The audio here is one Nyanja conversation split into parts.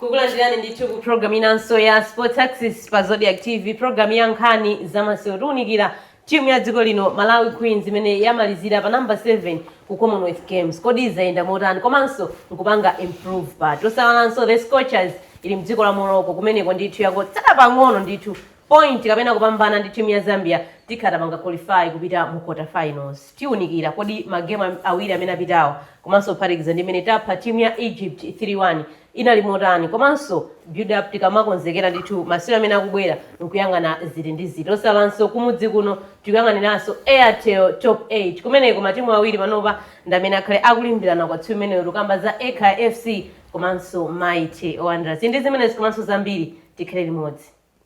kukulandirani ndithu ku programu inanso ya sports axis pa zodiak tv programu ya nkhani za masewero tiunikira Timu ya dziko lino, Malawi Queens, imene yamalizira pa number 7 ku Commonwealth Games, kodi zayenda motani komanso nkupanga improve pati? Osayiwalanso the Scorchers ili mdziko la Morocco kumeneko ndithu yangotsala pang'ono ndithu point kapena kupambana ndi timu ya Zambia tikhala tapanga qualify kupita mu quarter finals. Tiunikira kodi ma game awiri amene apitawa komanso kuphatikiza ndi imene tapha timu ya Egypt 3 1, inali motani komanso build up tikamakonzekera ndithu masewero amene akubwera nkuyang'ana ziti ndi ziti osayiwalanso kumudzi kuno tikuyang'aniranso airtel top 8 kumeneko matimu awiri panopa ndamene akhale akulimbirana kwa tsiku imeneyo tikamba za ekhaya fc komanso mighty wanderers tili ndi zimenezi komanso zambiri tikhale limodzi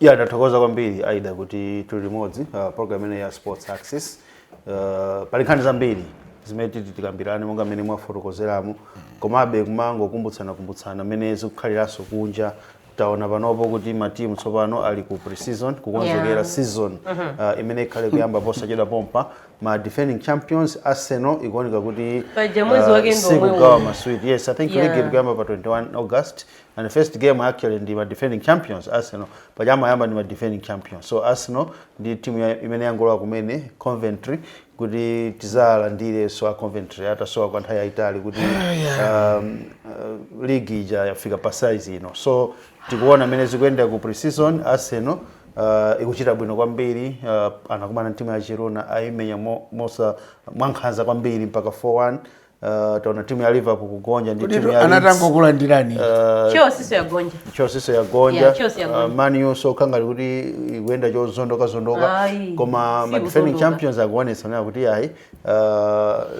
ya ndathokoza kwambiri aida kuti tili limodzi uh, program imene ya sports access uh, pali nkhani zambiri zimene titi tikambirane monga mmene mwafotokozeramo komabe kumangokumbutsana kumbutsana mmene zikukhaliranso kunja taona panopo kuti matimu tsopano ali ku pre-season kukonzekera Yeah. season uh, imene ikhale kuyamba posachedwa pompa ma defending champions arsenal ikuoneka kuti Paja mwezi wake ndi omwewo. sikugawa maswiti yes i think Yeah. league ikuyamba pa 21 august And first game actually ndi ma defending champions Arsenal paja amayamba ndi ma defending champions so Arsenal ndi timu ya- imene yangolowa kumene Coventry kuti tizalandirenso a Coventry atasowa kwa nthawi yayitali kuti um, uh, league ija yafika pa size ino so tikuona mene zikuyenda ku pre-season Arsenal uh, ikuchita bwino kwambiri uh, anakumana ndi timu ya Girona ayimenya mo- mosa mwankhanza kwambiri mpaka 4-1 Uh, taona timu ya Liverpool kugonja ndi timu ya anatangokulandirani uh, Chelsea yagonja Chelsea yagonja yeah, Chelsea yagonja uh, Man U so kangari kuti ikuenda chozondoka zondoka koma ma defending champions akuonesa nayo kuti ayi uh,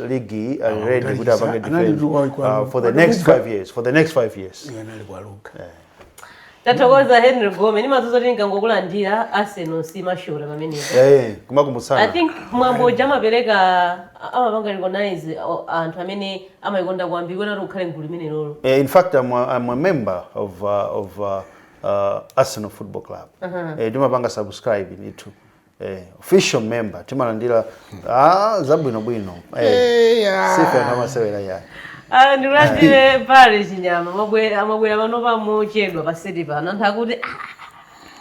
league are ah, ready kuti apange defend uh, for the next 5 years for the next 5 years yeah, tathokoza henry gome ndimadziwa kuti nkangokulandira arsenal simashota pamenepo eh kumakumbutsana i think mwambo uja amapereka a- amapanga recognize o- anthu amene amayikonda kwambiri kuti ati ukhale mgulu limenelolo Uh, in fact, I'm a, I'm a member of, uh, of uh, uh, Arsenal Football Club. Uh-huh. Uh, ndimapanga subscribe ndithu. Eh, official member timalandira ah, zabwino bwino eh, sife anthu amasewera yayi Ah, ndikulandire parry chinyama amabwera amabwera panopa mochedwa paseti pano anthu akuti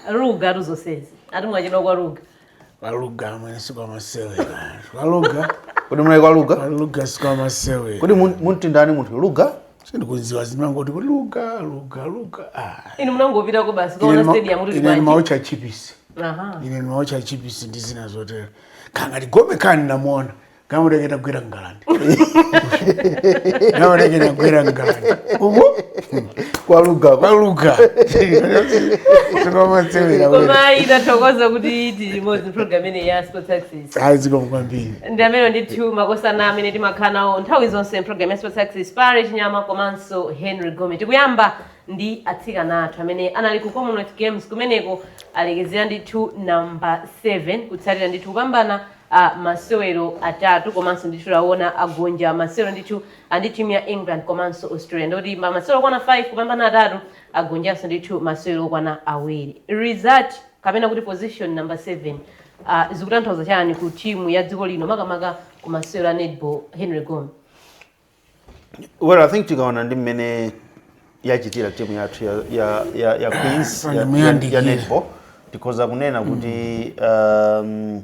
"Ah, luga atu zonsezi ati mwachedwa kwa luga Kwa luga amene sikwamasewera. Kwa luga. kodi munali kwa luga Kwa luga sikwamasewera. kodi mun- munti ndani munthu luga sindikuziwa zimangoti kuti luga luga luga ah. inu munangopitako basi kukaona stadium kuti ine ndimaotcha chipisi aha ine ndimaotcha chipisi ndi zina zotero kangati gome kani ndinamuona kamureketa gwera ngalande kamureketa gwera ngalande umo kwa luga kwa luga sikomasewera koma tithokoze kuti tili limodzi program imeneyi ya sports access ayi zikomo kwambiri ndi amene ndithu makosana amene timakhala nawo nthawi zonse mu program ya sports access pali chinyama komanso henry gome tikuyamba ndi atsikana athu amene anali ku commonwealth games kumeneko alekezera ndithu namba 7 kutsatira ndithu kupambana a masewero atatu komanso ndithu taona agonja masewero ndithu ndi timu ya england komanso australia ndikuti ma masewero okwana 5 kupambana atatu agonjanso ndithu masewero okwana awiri result kapena kuti position number 7 uh, zikutanthauza chani ku timu ya dziko lino makamaka ku masewero a netball henry gome well i think tikaona ndi mmene yachitira timu yathu ya, ya, ya, ya queens ya, ya, ya netball tikhoza kunena kuti um,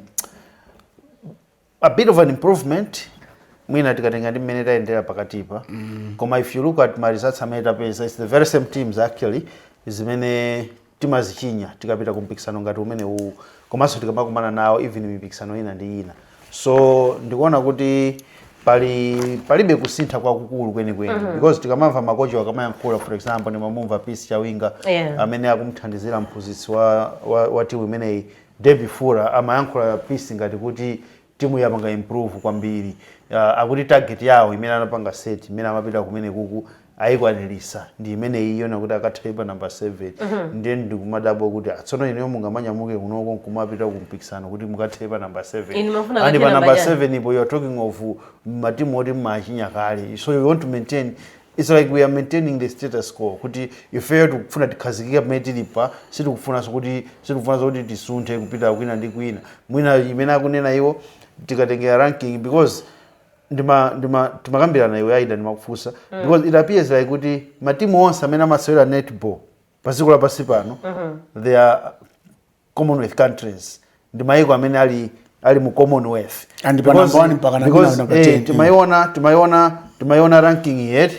a bit of an improvement mwina tikatenga ndi mmene tayendera pakatipa koma if you look at ma results amene tapeza its the very same teams actually zimene timazichinya tikapita ku mpikisano ngati umene uwu komanso tikamakumana nawo even mipikisano ina ndi ina so ndikuona kuti pali palibe kusintha kwakukulu kwenikweni because tikamamva makochi akamayankhula for example ndimamumva peace chawinga Yeah. amene akumthandizira mphunzitsi wa, wa, wa timu imeneyi Davie Fourer amayankhula peace ngati kuti timu yapanga improve kwambiri uh, akuti target yawo imene anapanga set imene amapita kumene kuku ayikwaniritsa ndi imene iyo ndiyakuti akathere pa number 7 mm -hmm. ndiye ndikumadabwa kuti tsono inuyo mungamanyamuke kunoko nkumapita kumpikisano kuti mukathere pa number 7 and pa number 7 ipo you are talking of matimu oti mmachinya kale so you want to maintain Its like we are maintaining the status quo kuti ifeyo tikufuna tikhazikike pamene tilipa sitikufunanso kuti sitikufunanso kuti tisunthe kupita kwina ndi kwina mwina imene akunena iwo tikatengera ranking because ndima ndima timakambirana iwe aida ndimakufunsa because it appears like kuti matimu onse amene amasewera netball pa dziko lapansi pano they are commonwealth countries ndi mayiko amene ali ali mu commonwealth And pa number one mpaka na- because, number eh, 10, timaiona timaiona timaiona ranking yet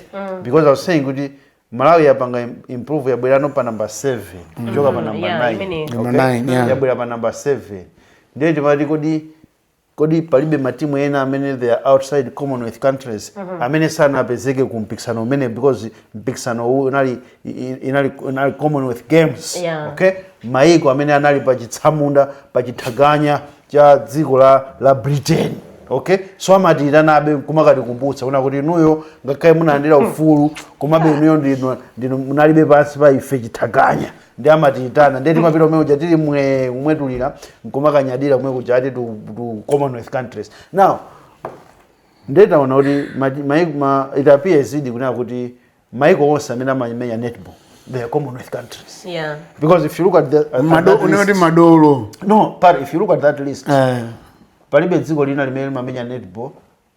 because i was saying kuti malawi yapanga im- improve yabwerako pa number 7 kuchoka pa number yeah, 9 imeneyi. Number nine, yeah. yabwera pa number 7 ndiye timati kodi kodi palibe matimu ena amene they are outside commonwealth countries amene sanapezeke ku mpikisano umene because mpikisano uwu unali i- i- inali, inali commonwealth games Yeah. okay maiko amene anali pa chitsamunda pa chitaganya cha dziko la, la britain okay so amatiitanabe kumakatikumbutsa kunena kuti inuyo ngakhale munalandira ufulu komabe inuyo ndinu, ndinu mudalibe pansi pa ife chitaganya ndi amatiyitana ndiye timapita kumene kuja tili mwee kumwetulira nkumakanyadira kumene kuja ati to, to commonwealth countries now ndiye taona kuti ma- mai- ma- it appears idi kunena kuti maiko onse amene amamenya netball they are commonwealth countries yeah because if you look at the at Mado- that kunena kuti list, madolo no but if you look at that list Eh, palibe dziko lina limene limamenya netball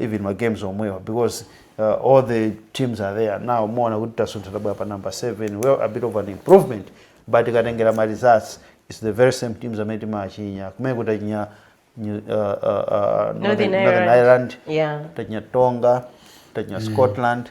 even ma games omwewa because uh, all the teams are there now muona kuti tasuntha tabwera pa number 7 well a bit of an improvement but tikatengera ma results it's the very same teams amene timachinya kumene kuti achinya New- uh, uh, uh, Northern Ireland. Ireland Yeah. tachinya Tonga tachinya Scotland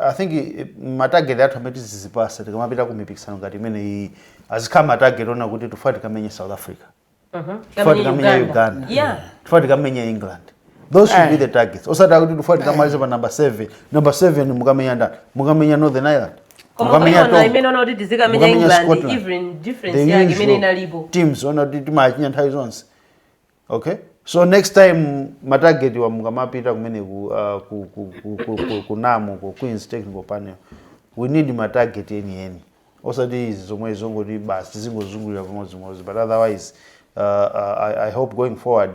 I think eh, ma target athu amene tizidzipatsa tikamapita ku mipikisano ngati imeneyi azikhala ma target onena kuti tifuna tikamenye South Africa. Tifuna tikamenye Uganda. Yeah. Tifuna tikamenye England. Those should be the targets. Osati kuti tifuna tikamalize pa number 7. Number 7 mukamenya ndani? Mukamenya Northern Ireland. koma Mukamenya kuiona Tonga. imene onena kuti tizikamenya Mukamenya england Scotland. even difference The yake imene usual inalipo teams onena kuti timachinya nthawi zonse okay so next time matageti awa mukamapita kumene ku, uh, ku, ku, ku, ku, ku, ku namu ku queens technical panel we need matageti enieni osati izi zomwe zongoti basi tizingozungulira pamodzimodzi but otherwise uh, uh, I, i hope going forward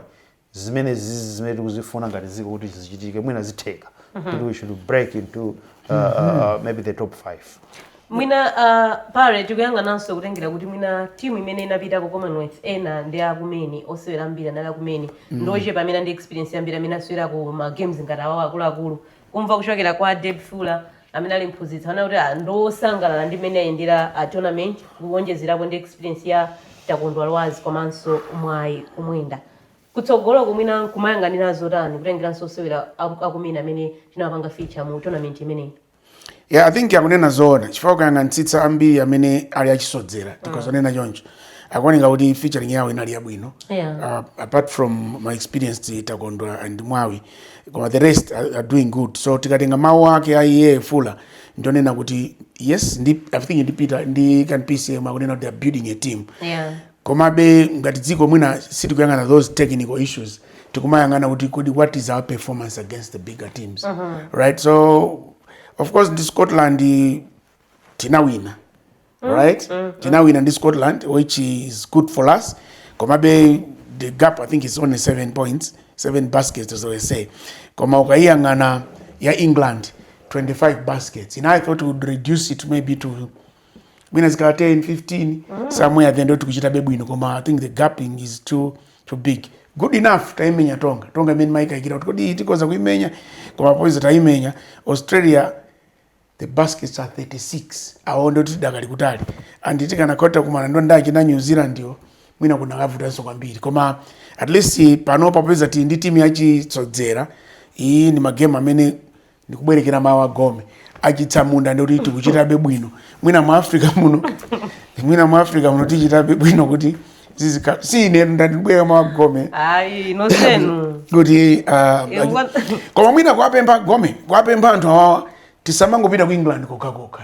zimene zizi zimene tikuzifuna ngati dziko kuti zichitike mwina zitheka kuti we should break into uh, uh, uh, maybe the top five Mwina a Barre tikuyang'ananso kutengera kuti mwina timu imene inapita ku Commonwealth ena ndi akumene osewera ambiri anali akumene mm. ndochepa amene ali ndi experience ambiri amene asewera ku ma games ngati awawo akuluakulu kumva kuchokera kwa Deb Fuller amene ali mphunzitsi anena kuti ah, ndosangalala ndi mmene ayendera a ah, tournament kuwonjezerapo ndi experience ya Takondwa Lwazi komanso Mwawi Kumwenda kutsogolo kuno mwina tingayang'anire zotani kutengeranso osewera akumene amene tinawapanga feature mu tournament imeneyi Yeah, I think akunena zoona chifukwa ukayang'anitsitsa ambiri amene ali achisodzera mm. tikadzanena choncho akuoneka kuti featuring yawo inali yabwino yeah. uh, apart from ma experienced takondwa and mwawi koma the rest are, are doing good so tikatenga mawu ake a iye fuller ndi onena kuti yes ndi, i think ndi peter ndi kan pcm akunena kuti they are building a team yeah. Komabe ngati dziko mwina sitikuyang'ana those technical issues tikumayang'ana kuti kodi what is our performance against the bigger teams uh -huh. right so of course ndi Scotland tinawina mm, right mm, mm. tinawina ndi Scotland which is good for us komabe the gap I think is only 7 points 7 baskets as I say koma ukayang'ana ya England 25 baskets and I thought we would reduce it maybe to mwina zikakhala 10 15 mm -hmm. somewhere then ndekuti tikuchitabe bwino koma i think the gapping is too too big good enough taimenya tonga tonga imene timaikayikira kuti kodi tikhoza kuimenya koma popeza taimenya australia the baskets are 36 awo ndekuti tidakali kutali and tikanakhoza kumana ndi achina new zealand yo mwina kunakavutanso kwambiri koma at least panopa popeza tili ndi timu yachisodzera iyi ndi magemu amene ndikubwerekera mawu a gome a chitsamunda ndikuti tikuchitabe bwino mwina mu africa muno mwina mu africa muno tichitabe bwino kuti zizikhala si ine ndabwereka mawu a gome ayi nosenu kuti ah, Eh, ngwa- koma mwina kuwapempha gome kuwapempha anthu awawa tisamangopita ku england kokhakokha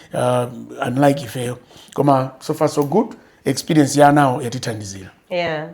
uh, unlike ifeyo koma so far so good experience ya anawo yatithandizira yeah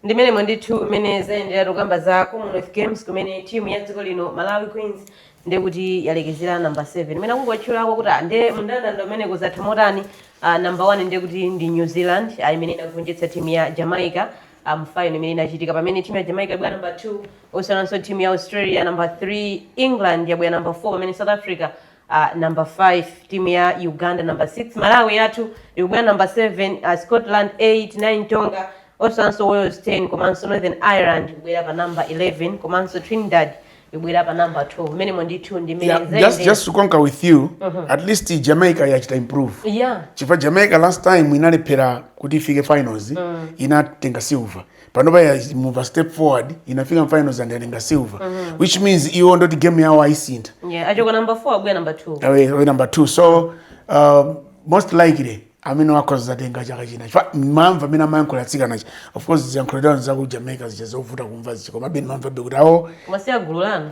ndi m'menemo ndithu mmene zayendera tokamba za commonwealth games kumene timu ya dziko lino malawi queens ndekuti yalekezera namba 7 imene akungotchulako kuti ah, nde mndandanda unatha motani ah, namba 1 ndekuti ndi new zealand ah, imene inagonjetsa timu ya jamaica ah, mu final imene inachitika pamene timu ya jamaica yabwera namba 2 osiyananso timu ya australia namba 3 england yabwera namba 4 pamene south africa uh, number 5 timu ya uganda number 6 malawi yathu ikubwera number 7 uh, scotland 8 9 tonga osiyananso wales 10 komanso northern ireland ikubwera pa number 11 komanso trinidad ikubwera pa number 12 m'menemo ndithu ndi Yeah, mene just, just to concur with you at least jamaica yachita improve yeah chifukwa jamaica last time inalephera kuti ifike finals inatenga silver panopa ya- yamuva step forward inafika mu finals and yatenga silver which means iwo ndekuti game yawo ayisintha yeah achoka number 4 abwera number 2 awe awe number two so um, most likely amenewa akhoza kuzatenga chaka china chifukwa ndimamva mmene amayankhulira atsikana aja of course ziyankhulo zawo za ku jamaica zija zovuta kumva zija komabe ndimamvabe kuti awo koma si a gulu lanu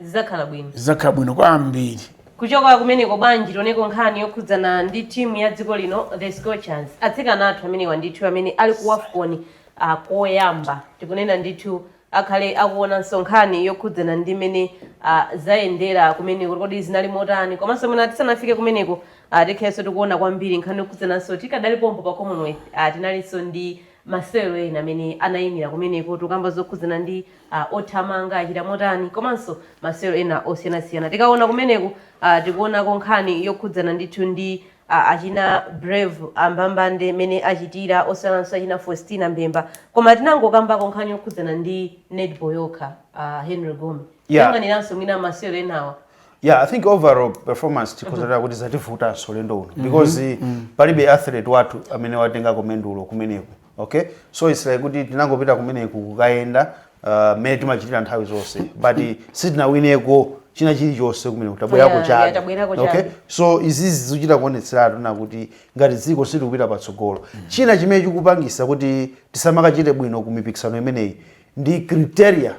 Zidzakhala bwino. Zidzakhala bwino kwambiri. Kuchoka kumeneko bwanji tioneko nkhani yokhudzana ndi team ya dziko lino the Scorchers. Atsikana athu amenewa ndithu amene ali ku Wafcon uh, koyamba tikunena ndithu tikhale tikuonanso nkhani yokhudzana ndi mmene uh, zayendera kumeneko kodi zinali motani komanso mwina tisanafike kumeneko uh, tikhalenso tikuona kwambiri nkhani yokhudzananso tikadali pompo pa Commonwealth uh, tinalinso ndi masewero ena amene anayimira kumeneko tikukamba zokhudzana ndi a, othamanga achita motani komanso masewero ena osiyanasiyana tikaona kumeneku a tikuonako nkhani yokhudzana ndithu ndi a achina Brave Mbambande mmene achitira osiyananso achina faustina mbemba koma tinangokambako nkhani yokhudzana ndi netball yokha a henry gome Yeah. kuyang'aniranso mwina masewero enawa yeah i think overall performance tikhonzera kuti zativutanso ulendo uno because palibe athlete wathu amene watengako mendulo kumeneko okay so it's like kuti tinangopita kumeneku kukayenda uh, mmene timachitira nthawi zonse but sitinawineko china chilichonse kumeneku tabwerako Yeah, yeah, chabe tabwerako okay chabe. so izizi zikuchita kuonetseratu nakuti ngati dziko sitikupita patsogolo china chimene chikupangisa kuti tisamakachite bwino ku mipikisano imeneyi ndi criteria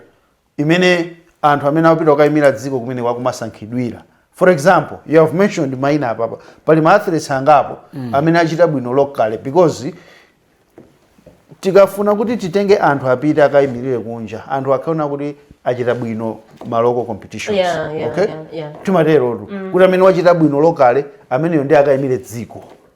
imene anthu amene akupita kukayimira dziko kumeneko akumasankhidwira for example you have mentioned maina apapa pali ma athletes angapo mm. amene achita bwino locally because tikafuna kuti titenge anthu apite akayimirire kunja anthu akaona kuti achita bwino ma local competitions Yeah, yeah, okay yeah, yeah. timaterotu kuti amene wachita bwino locally ameneyo ndi akayimire dziko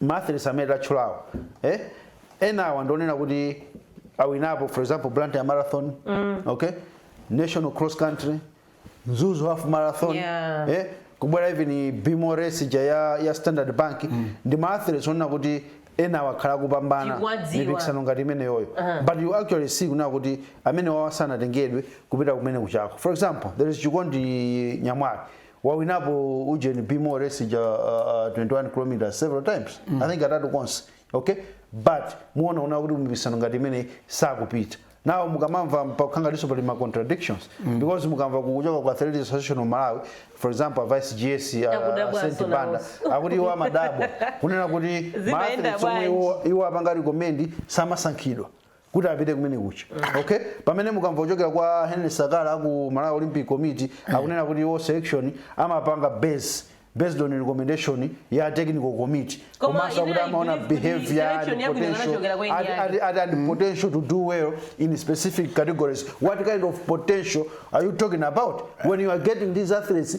Ma athletes amene tatchulawo eh? enawa ndionena kuti awinapo for example Blantyre marathon mm. okay national cross country Mzuzu half marathon Yeah. eh? kubwera even Be More race ija ya, ya standard bank mm. ndi maathletes onena kuti enawa akhala akupambana Tikuwadziwa. mipikisano ngati imeneyoyo but you actually see kunena kuti amenewawa sanatengedwe kupita kumenekujako for example there is chikondi nyamwali wawinapo ujeni be more race ija uh, uh, 21 kilometers several times mm. i think katatu konse okay but muona kunena kuti mumipikisano ngati imeneyi sakupita nawo mukamamva pakukhala ngatinso pali ma contradictions mm. because mukamva kuchoka kwa athletics association of malawi for example a vice gs a- a Akudabwa Saint asona banda onse. akuti iwo amadabwa kunena kuti Zimayenda maathletes omwe bwanji? iwo- iwo apanga recommend samasankhidwa kuti apite kumenekuja okay pamene mukamva kuchokera kwa henry sakala aku malawi olympic committee akunena kuti iwo selection amapanga base based on recommendation ya technical committee Koma komanso ine kuti I amaona believe kuti behavior selection and yabwino potential inachokera kwa and, NDI. and, and, and potential to do well in specific categories what kind of potential are you talking about when you are getting these athletes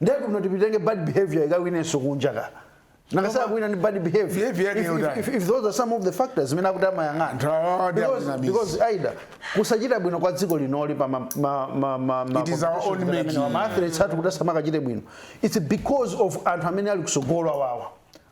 ndiye kuti kuti titenge bad behavior ikawinenso kunja ka nanga Koma- sakuwina ndi bad behavior Behavior yake If- if- yotani? if- if those are some of the factors zimene akuti Nthawi amayang'ana ndi Because- akunamiza. because either kusachita bwino kwa dziko linoli pa ma- ma- ma- ma- ma- It is our own competitions amene making. wa ma athletes athu kuti asamakachite bwino its because of anthu amene ali kusogolo awawa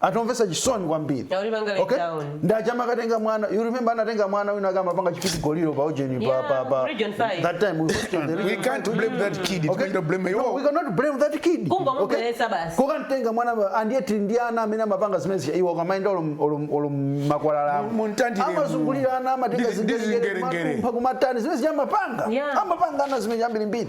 anthu omvetsa chisoni kwambiri Taulipanga let okay down. ndi aja amakatenga mwana you remember anatenga mwana wina wake amapanga chipidigoliro pa ujeni pa Yeah, pa pa region five. that time we hosted the we region can't five. blame that kid Okay? timaita blame no, we yo cannot blame that kid Kungomubweretsa basi. kukatenga mwana ma- and yet ndi ana amene amapanga zimene zija iwo akamaenda olo m'makwalala Mu- muntandire mu- amazungulira ana amatenga Ndizi- ndizi ngerengere. zingerengerepa kumatani zimene zija amapanga Yeah. amapanga ana zimene zambirimbiri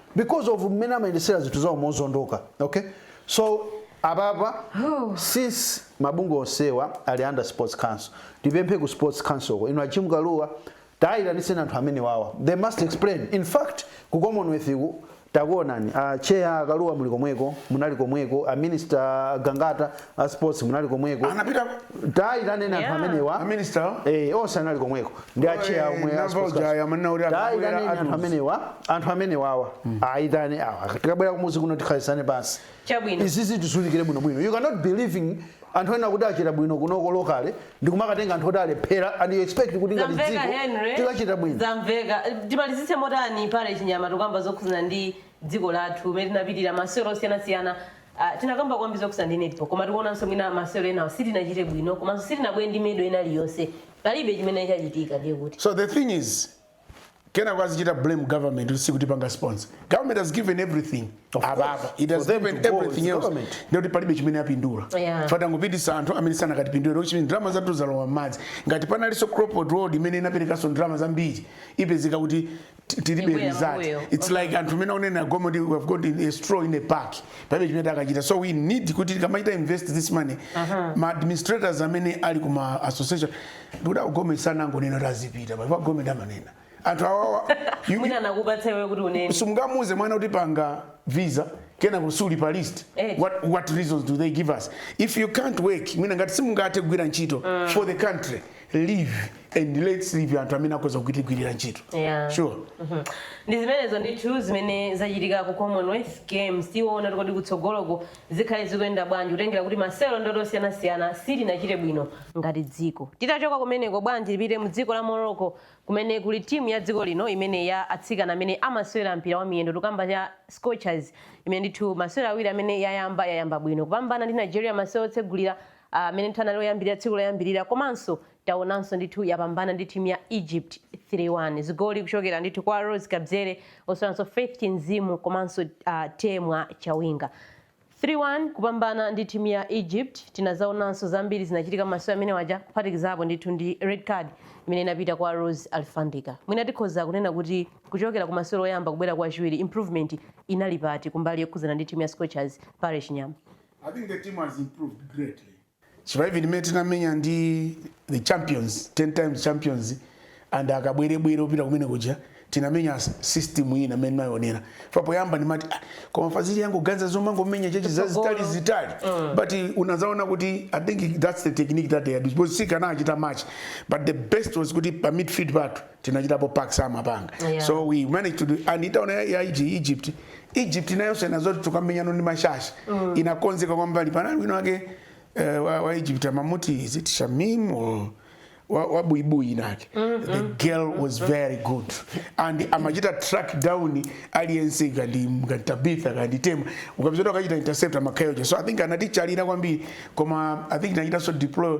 because of mmene amayendesera zinthu zawo mozondoka okay so apapa oh. since mabungwe onsewa ali under sports council tipemphe ku sports councilko inu a Jim Kalua tayitaniseni anthu amenewawa they must explain in fact ku commonwealth ku takuonani a ah, chair a Kalua muli komweko munali komweko a minister gangata a sports munali komweko anapita tayitaneni anthu Yeah. amenewa aminister Eh, onse anali komweko ndi Oh, acheya eh, omwe ndinamva uja aya manena kuti akabwera tayitaneni anthu atiuze. amenewa anthu amenewawa ayitane awa tikabwera kumudzi kuno tikhalisane pansi Chabwino. izi tiziunikire bwinobwino you cannot be living anthu ena oti achita bwino kunoko lokale ndikumakatenga anthu oti alephera and you expect kuti ngati zamveka dziko henry tikachita bwino zamveka timalizitse motani parish nyama tikukamba zokhuzana ndi dziko lathu umene tinapitira masewero osiyanasiyana Uh, tinakamba kwambiri zokhudzana ndi netball koma tikuonanso mwina masewero enawo sitinachite bwino komanso sitinabwere ndi medal ina iliyonse palibe chimene chachitika ndiye kuti so the thing is kenako azichita blame government kuti sikutipanga sponsor government has given everything Of course. ababa it has For them given to go, everything it's else government. ndiye kuti palibe chimene apindula Yeah. tangopititsa anthu amene sanakatipindulira chilichonse ndalama zathu zalowa m'madzi ngati panalinso crossroads imene inaperekanso ndalama zambiri ipezeka kuti Ti- tilibe Tibwera result pambuyo. it's like anthu amene onena government kuti we have got a straw in a pack palibe chimene takachita so we need kuti tikamachita invest this money ma administrators amene ali ku ma association ndikuti a government sanangonena kuti azipita palipo a government amanena anthu awawa you- mwina anakupatsa iwe kuti unene simungamuuze mwana kuti panga visa kenako suli pa list Eh. what, what reasons do they give us if you can't work mwina ngati simungathe kugwira ntchito for the country leave and let's leave anthu amene akhoza kutigwirira ntchito Yeah. sure Mhm. ndi zimenezo ndithu zimene zachitika ku commonwealth games tiona ndikuti kutsogoloko zikhale zikuyenda bwanji kutengera kuti masewero ndoti osiyanasiyana sitinachite bwino ngati dziko titachoka kumeneko bwanji tipite mu dziko la morocco kumene kuli timu ya dziko lino imene ya atsikana amene amasewera mpira wa miyendo tikukamba za scorchers imene ndithu masewero awiri amene yayamba yayamba bwino kupambana ndi nigeria masewero otsegulira amene ndithu anali oyambirira tsiku loyambirira komanso taonanso ndithu yapambana ndi timu ya Egypt 3-1 zigoli kuchokera ndithu kwa Rose Kabzere osaiwalanso Faith Chinzimu komanso uh, Temwa Chawinga 3-1 kupambana ndi timu ya Egypt tinazaonanso zambiri zinachitika m'masewero amene aja kuphatikizapo ndithu ndi red card imene inapita kwa Rose Alfandika mwina tikhoza kunena kuti kuchokera ku masewero oyamba kubwera ku achiwiri improvement inali pati kumbali yokhuzana ndi timu ya Scorchers Parish Nyama I think the team has improved greatly. Chifukwa even mmene tinamenya ndi the champions, 10 times champions and akabwerebwere opita kumene kuja tinamenya system ina mene naionera papoyamba ndimati ah, koma fazili yangu ganza zomangomenya tchetche zazitali zitali mm. but eh, unazaona kuti i think that's the technique that they had because sikanachita match but the best was kuti pa midfield pathu tinachitapo pace amampanga yeah. so we managed to do and utaona ya Egypt Egypt nayonso inadziwa zoti tikumenyana ndi mashashi mm. inakonzeka kwambiri panali wina wake uh, wa, wa Egypt amamuti is it Shamim or wabuibui winawake mm -hmm. the girl was very good and amachita track down aliyense kaya ndi tabitha kaya ndi temwa ukapeza akuchita intercept amakayoje so i think anaticha alina kwambiri koma i think nachita so deploy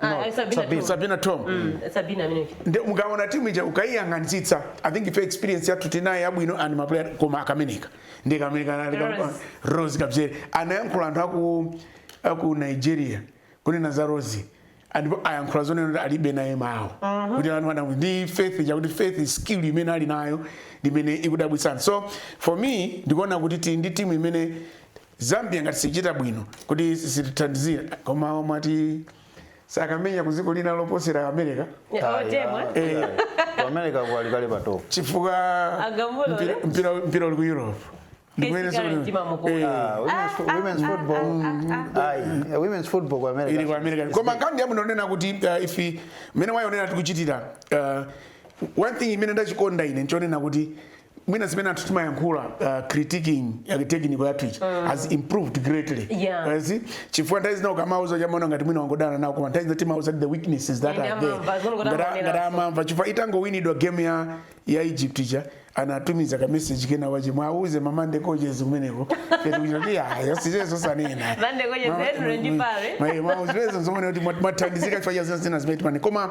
Ah, No, ah, Sabina Sabina. Tom. sabina tom Mm, Sabina amene. nde mukaona timu ija ukayiyang'anitsitsa i think ife experience yathu tinayo yabwino and maplayer koma kameneka ndi kameneka anali ka- Rose. rose kabzere anayankhula anthu aku aku nigeria kunena za rose ndipo ayankhula zonena kuti alibe naye mawo kuti anthu anamu ndi faith ija kuti faith skill imene ali nayo ndimene ikudabwitsa so for me ndikuona kuti tili ndi timu imene Zambia ngati sichita bwino kuti sitithandizira koma amati sakumenya ku dziko lina loposera America Temwa Eh. ku America ku ali kale pa topo chifukwa Agamulo, mpira- eh? mpira mpira uli ku Europe Ndikuyeneso Kesi kale kuti- mtima mukulu. Eh, Ah, women's fo- women's football ayi eh, women's football ku america ili ku America koma nkhani yabwino yonena kuti uh, ife mmene waonera tikuchitira uh, one thing imene ndachikonda ine nchonena kuti mwina zimene anthu timayankhula uh, critiquing uh, technical yathu ija mm. has improved greatly yeah. uh, see chifukwa nthawi zina ukamauza amaona ngati mwina wangodana nawo koma nthawi zina timawauza the weaknesses that are there ngati amamva chifukwa itangowinidwa game ya, ya egypt ija anatumiza ka message kenakake mwauze mama nde kojes kumeneko kuti kuchati ayo sizezo sanena ndi ma coaches ndio ndipare mwa mwa uzezo zomwe kuti mwathandizika chifukwa cha zina zimene timanena koma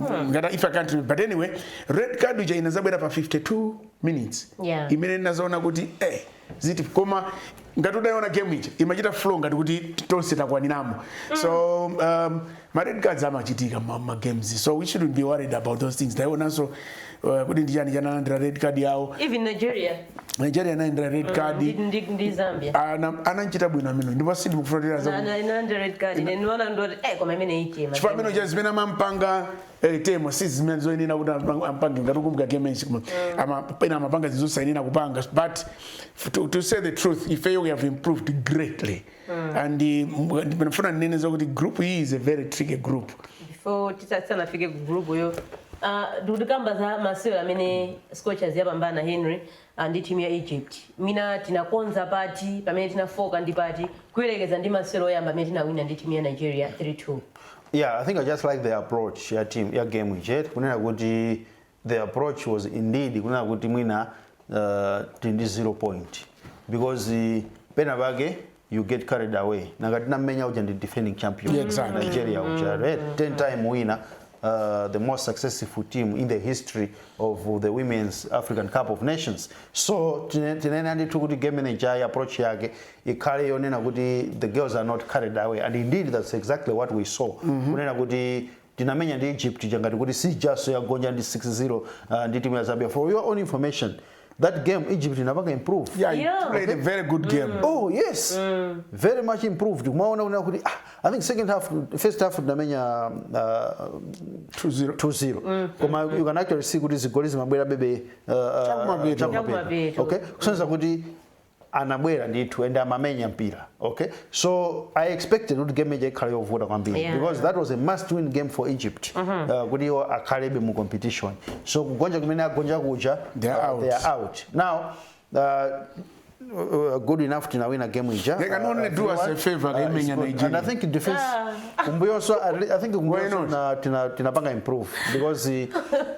ngati if I can't remember. but anyway red card ija inazabwera pa 52 minutes Yeah. imene inadzaoneka kuti eh ziti koma ngati udayiona game ija imachita flow ngati kuti tonse takwaniramo so um, ma red cards amachitika mu, ma games so we shouldn't be worried about those things taionanso eh, kodi ndi chani chanalandira red card yawo even nigeria nigeria inalandira red card ndi- ndi ndi zambia Ana- anachita bwino amene ndipo sindimufuna kuti aza Ana- analandira red card ine ndiona ndoti eh koma imene ichema chifukwa amene uja zimene amampanga eh, temwa si zimene zoyenera kuti ampa- ampange ngati ukumbuka game enchi koma ama- pena amapanga zinthu zosayenera kupanga but to, to say the truth ifeyo we have improved greatly mm. and ndinafuna ndinene zakuti group iyi is a very tricky group Yeah, tisanafike ku group yo ah, ndikuti tikambe za masewero amene scorchers yapambana henry ah, ndi timu ya egypt mwina tinakonza pati pomwe tinafooka ndi pati kuyerekeza ndi masewero oyamba amene tinawina ndi timu ya nigeria 32 yeah i think i just like the approach ya team ya game ija kunena kuti the approach was indeed kunena kuti mwina uh, tili ndi zero point because uh, pena pake you get carried away ngati tinamenya uja ndi defending champion Yeah, exactly. nigeria uja right? 10 time winner Uh, the most successful team in the history of the women's african cup of nations so tine- tinanena ndithu kuti game management approach yake ikhale yonena kuti the girls are not carried away and indeed that's exactly what we saw kunena kuti Tinamenya ndi Egypt ija ngati kuti si ijanso yagonja ndi 6 0 uh, ndi timu ya Zambia. For your own information, that game Egypt inapanga improve. Yeah, they Yeah. played a very good game. Oh yes. Very much improved. Kumaona kunena kuti ah, I think second half first half tinamenya uh, 2-0. 2-0. Koma you can actually see kuti zigoli zimabwera bebe uh, uh, Chakumapeto. chakumapeto. Chakumapeto. Okay? Kusonyeza kuti anabwera ndithu and amamenya mpira okay so i expected kuti game ija ikhala yovuta kwambiri Yeah. because that was a must win game for egypt uh, kuti iwo akhalebe mu competition so kugonja kumene agonja kuja They are uh, out. they are out now uh, uh, good enough tinawina game ija They can uh, only do us a 3-1. favor, Uh, akaimenya it's good. Nigeria. and i think defense kumbuyonso at le- i think kumbuyonso not? tina- tina- tinapanga improve because uh,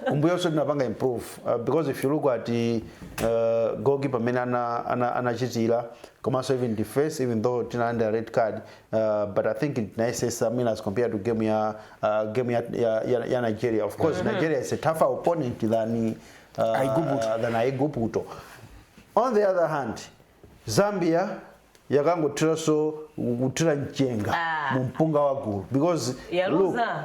kumbuyonso tinapanga improve Uh, because if you look at the uh, gogi pamene ana, ana, anachitira komanso even defense even though tinalanda red card uh, but i think tinayesesa mean as compared to game ya uh, game ya, ya, ya, ya nigeria of course mm -hmm. nigeria is a tougher opponent than uh, Aiguputo. than aiguputo on the other hand zambia yakangothiranso kuthira mchenga Ah. mu mpunga wa gulu because look, Yaluza.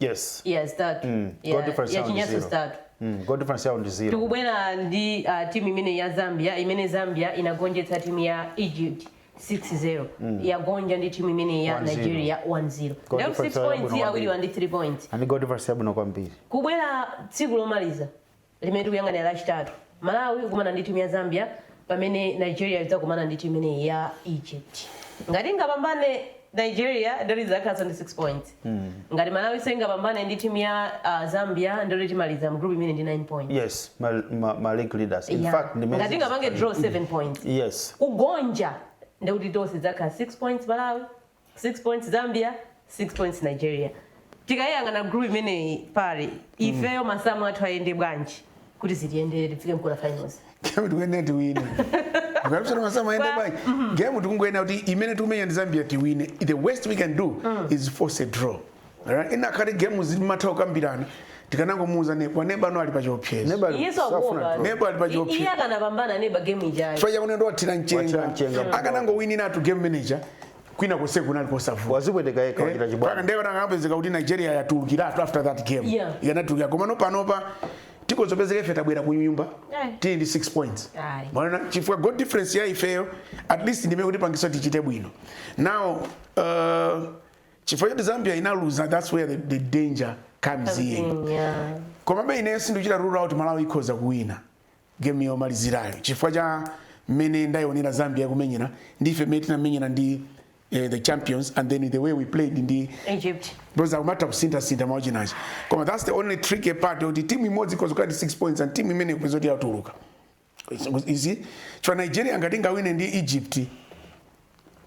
yes yeah zitatu Mm, Yeah, goal difference ya yao ndi chinanso zero. zitatu mm. goal difference yao ndi zero tikubwera ndi uh, timu imeneyi ya zambia imene zambia inagonjetsa timu ya egypt 6-0 yagonja ndi timu imene ya 1-0. nigeria 1-0 Goal Lero difference 6 yao points yabwino awiriwa ndi 3 points and goal difference yabwino kwambiri kubwera tsiku lomaliza limene tikuyang'anira lachitatu malawi ikukumana ndi timu ya zambia pamene nigeria idzakumana ndi timu imeneyi ya egypt ngati ingapambane nigeria ndekuti idzakhalanso ndi 6 points ngati malawi ingapambane ndi timu ya ah, zambia ndekuti timaliza mgroup imeneyi ndi 9 points yes ma, ma, ma league leaders in Yeah. fact ndimene ngati ingapange zinthu- draw 7 points yes kugonja ndekuti tonse tizakhala 6 points malawi 6 points zambia 6 points nigeria tikayiyang'ana group imeneyi pali ifeyo masamu athu ayende bwanji kuti zitiyendere tifike mu quarter finals game tikuyenera tiwine ukafunsa masamu ayende bwanji game tikungoyenera kuti imene tikumenya ndi zambia tiwine the worst we can do is force a draw Alright, ikanakhala game zimatha kukambirana tikanangomuuza neba neba pano ali pa chiopsezo Neba ali- Iye safuna sakuopa. draw. Neba ali pa I- chiopsezo. Iye akanapambana neba game ijayo. chifukwa chakuti ndo wathira Wathira mchenga mchenga. akanangowiniratu game imene ija kwina konse kunali kosavuta wazipweteka yekha wachita kachibwana nde zikanapezeka kuti nigeria yatulukiratu after that game Yeah. ikanatulukira komano panopa tikuzapezeka ife tabwera ku nyumba Eh. tili ndi 6 points Aye. mwaona chifukwa goal difference ya ifeyo at least ndimene ikutipangitsa tichite bwino now uh, chifukwa choti zambia inaluza thats where the, the danger comes in yeah. komabe ine sindichita rule out malawi ikhoza kuwina game yomalizirayo chifukwa cha mmene ndayionera zambia ikumenyera ndife mmene tinamenyera ndi eh, the champions and then the way we played ndi egypt because akumatha kusinthasintha mwina chinachi koma thats the only tricky part yoti timu imodzi ikhoza kukhala ndi 6 points and timu imene izipeza kuti yatuluka ichi cha nigeria ngati ingawine ndi egypt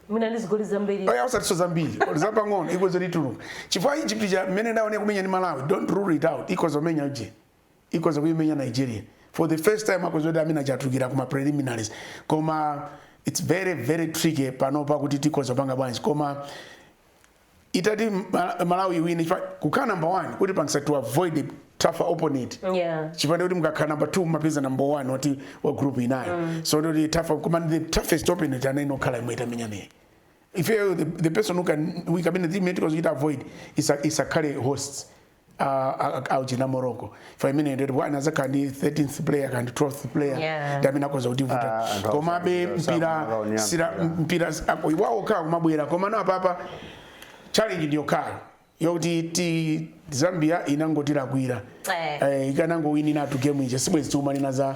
mwina ndi zigoli zambiri olo osatinso zambiri zapang'ono ikhoza kutuluka chifukwa egypt cha mmene ndaone kumenya ndi malawi don't rule it out ikhoza kumenya uje ikhoza kuimenya nigeria for the first time akhozati amene achatukira kuma preliminaries koma it's very very tricky panopa kuti tikhoza kupanga bwanji koma itati Mal- malawi iwine chifukwa kukhala number one kutipangitsa to avoid tougher opponent Yeah. chifa nde kuti mukakhala number two mumapeza number one wa group inayo so ndoti tougher koma the toughest opponent anayenera kukhala imene tamenya nayoyi ifeyo the, the person who can we amene tikhoza kuchita avoid isa- isakhale hosts akuchina morocco chifa imene ndiyo ndipo adzakhala ndi 13th player kapena 12th player Yeah. ndi amene akhoza kutivuta Ah, anthu komabe awasankha, mpira sakumaonetsera mpira. mpira wawo ukhala kumabwera komano apapa challenge ndi yokhala yokuti ti zambia inangotilakwira Eh. eh, ikanangowinanitu game ija sibwezi tikumanena za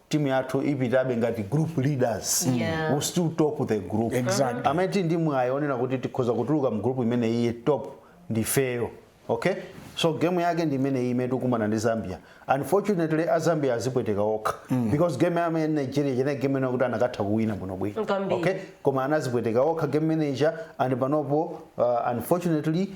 timu yathu ipitabe ngati group leaders yeah. we still top the group exactly. amene tili ndi mwayi onena kuti tikhoza kutuluka mu group imeneyi top ndifeyo okay so game yake ndi imene iyi imene tikumana ndi zambia unfortunately a zambia azipweteka okha mm. because game ya nigeria ija inali game imene kuti akanatha kuwina bwinobwino okay koma anazipweteka okha game imeneija and panopo uh, unfortunately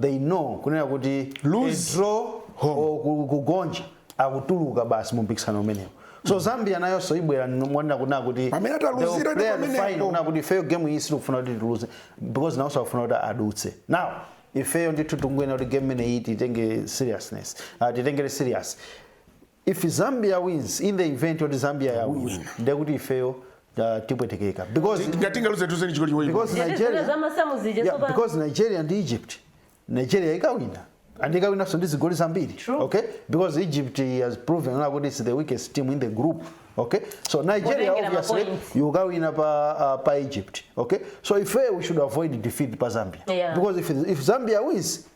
they know kunena kuti Lose a draw home. or ku- kugonja akutuluka basi mu mpikisano umenewu so zambia nayonso ibwera monena kunena kuti Pamene ataluzira they'll ndi play the pamenepo. final, kunena kuti ifeyo game iyi sitikufuna kuti tiluze because nawonso akufuna kuti adutse now ifeyo ndithu tikunena kuti game imeneyi titenge seriousness uh, titengere serious if zambia wins in the event yoti zambia yawina ndiye kuti ifeyo uh, tipwetekeka because ngati tingaluze tiluze ndi chigoli chimodzi because Ndiye zimene nigeria zamasamu zija yeah, tsopano. because nigeria ndi egypt nigeria ikawina and ikawinanso ndi zigoli zambiri True. okay because egypt has proven now kuti it's the weakest team in the group okay so nigeria Kutengera obviously mapoints. ikawina pa, uh, pa egypt okay so ife we should avoid defeat pa zambia Yeah. because if, if zambia wins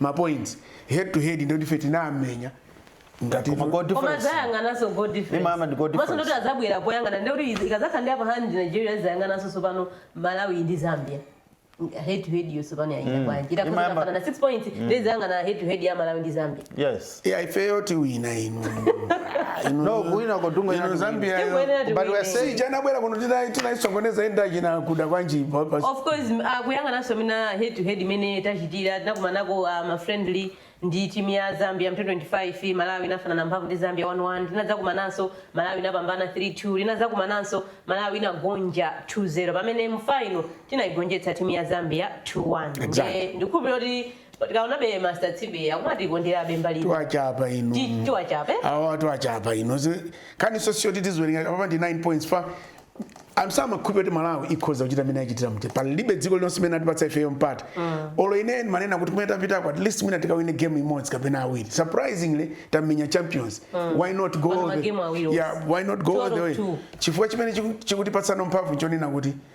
ma points head to head ndi onse ndife tinamenya ngati Koma goal koma difference. azayang'ananso goal Ima ama ndi goal difference. mwa so nde kuti adzabwera poyang'ana ndi kuti izi- ikadzakhala ndi upper hand nigeria azayang'ananso tsopano malawi ndi zambia head to head yo tsopano yayenda bwanji Imayamba- itakufanana 6 points nde azayang'ana head to head ya malawi ndi zambia yes Yeah, ifeyo tiwina inu Inu- No, kuwina kotunga inu inati Zambia yo. Tingoyenera But we are tiwine. saying- Sija anabwera kuno tina- tinaisokoneza enda china kuda kwanji pa- pa- of course m- ah, kuyang'ananso mmene head to head imene tachitira tinakumanako ah, ma friendly ndi timu ya zambia mu 2 25 malawi inafanana mphamvu ndi zambia 11 tinadzakumananso malawi inapambana 32 tinadzakumananso malawi inagonja 20 pamene mu faino tinaigonjetsa timu ya zambia 21 Exactly. Ndiye ndikukhulupirira kuti tikaonabe master tsibe akumatikonderabe mbali ino. tiwachapa inu Ti- tiwachapa, eh? awa tiwachapa inu Zi- kani so sio titiziwerenga papa ndi 9 points pa amsama khupe kuti malawi ikhoza kuchita mmene yachitira mte palibe dziko lililonse limene anatipatsa ifeyo mpata olo ine manena kuti kumene tapitako at least mwina tikawine game imodzi kapena awiri surprisingly tamenya champions why not go Pano all the- magemu awiri onse. yeah why not go Two all out the of way two. chifukwa chimene chiku- chikutipatsano mphamvu chonena kuti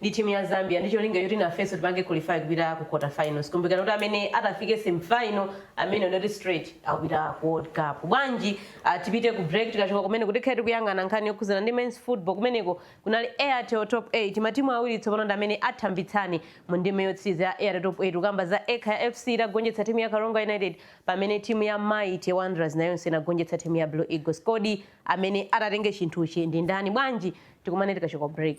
ndi team ya Zambia ndi cholinga choti nafenso tipange qualify kupita ku quarter finals. Kumbukirani kuti amene atafike semi final ameneyu ndiye kuti straight akupita ku World Cup. Bwanji uh, tipite ku break tikachoka kumeneko tikhale tikuyang'ana nkhani yokhuzana ndi men's football kumeneko kunali Airtel Top 8 matimu awiri tsopano ndi amene athambitsane mu ndime yotsiriza ya Airtel Top 8 kukamba za Ekhaya FC itagonjetsa timu ya Karonga United pamene timu ya Mighty Wanderers nayonso inagonjetsa timu ya Blue Eagles. Kodi amene atatenge chinthuchi ndi ndani? Bwanji tikumane tikachoka break.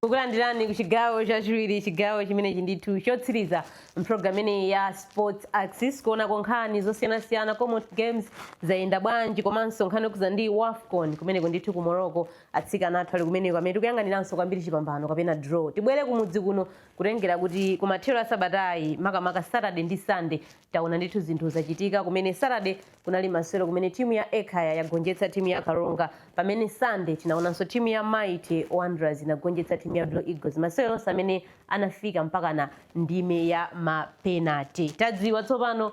kukulandirani ku chigawo chachiwiri chigawo chimenechi ndithu chotsiriza mpulogalamu imeneyi ya sports axis kuonako nkhani zosiyanasiyana komanso games zayenda bwanji komanso nkhani yokhudza ndi wafcon kumeneko ndithu ku morocco atsikana athu ali kumeneko amene tikuyang'aniranso kwambiri chipambano kapena draw tibwere kumudzi kuno kutengera kuti kumathero asabatayi makamaka saturday ndi sunday taona ndithu zinthu zachitika kumene saturday kunali masewero kumene timu ya ekhaya yagonjetsa timu ya karonga pamene sunday tinaonanso timu ya mighty wanderers inagonjetsa timu ya blue eagles masewero onse amene anafika mpakana ndime ya mapenati tadziwa tsopano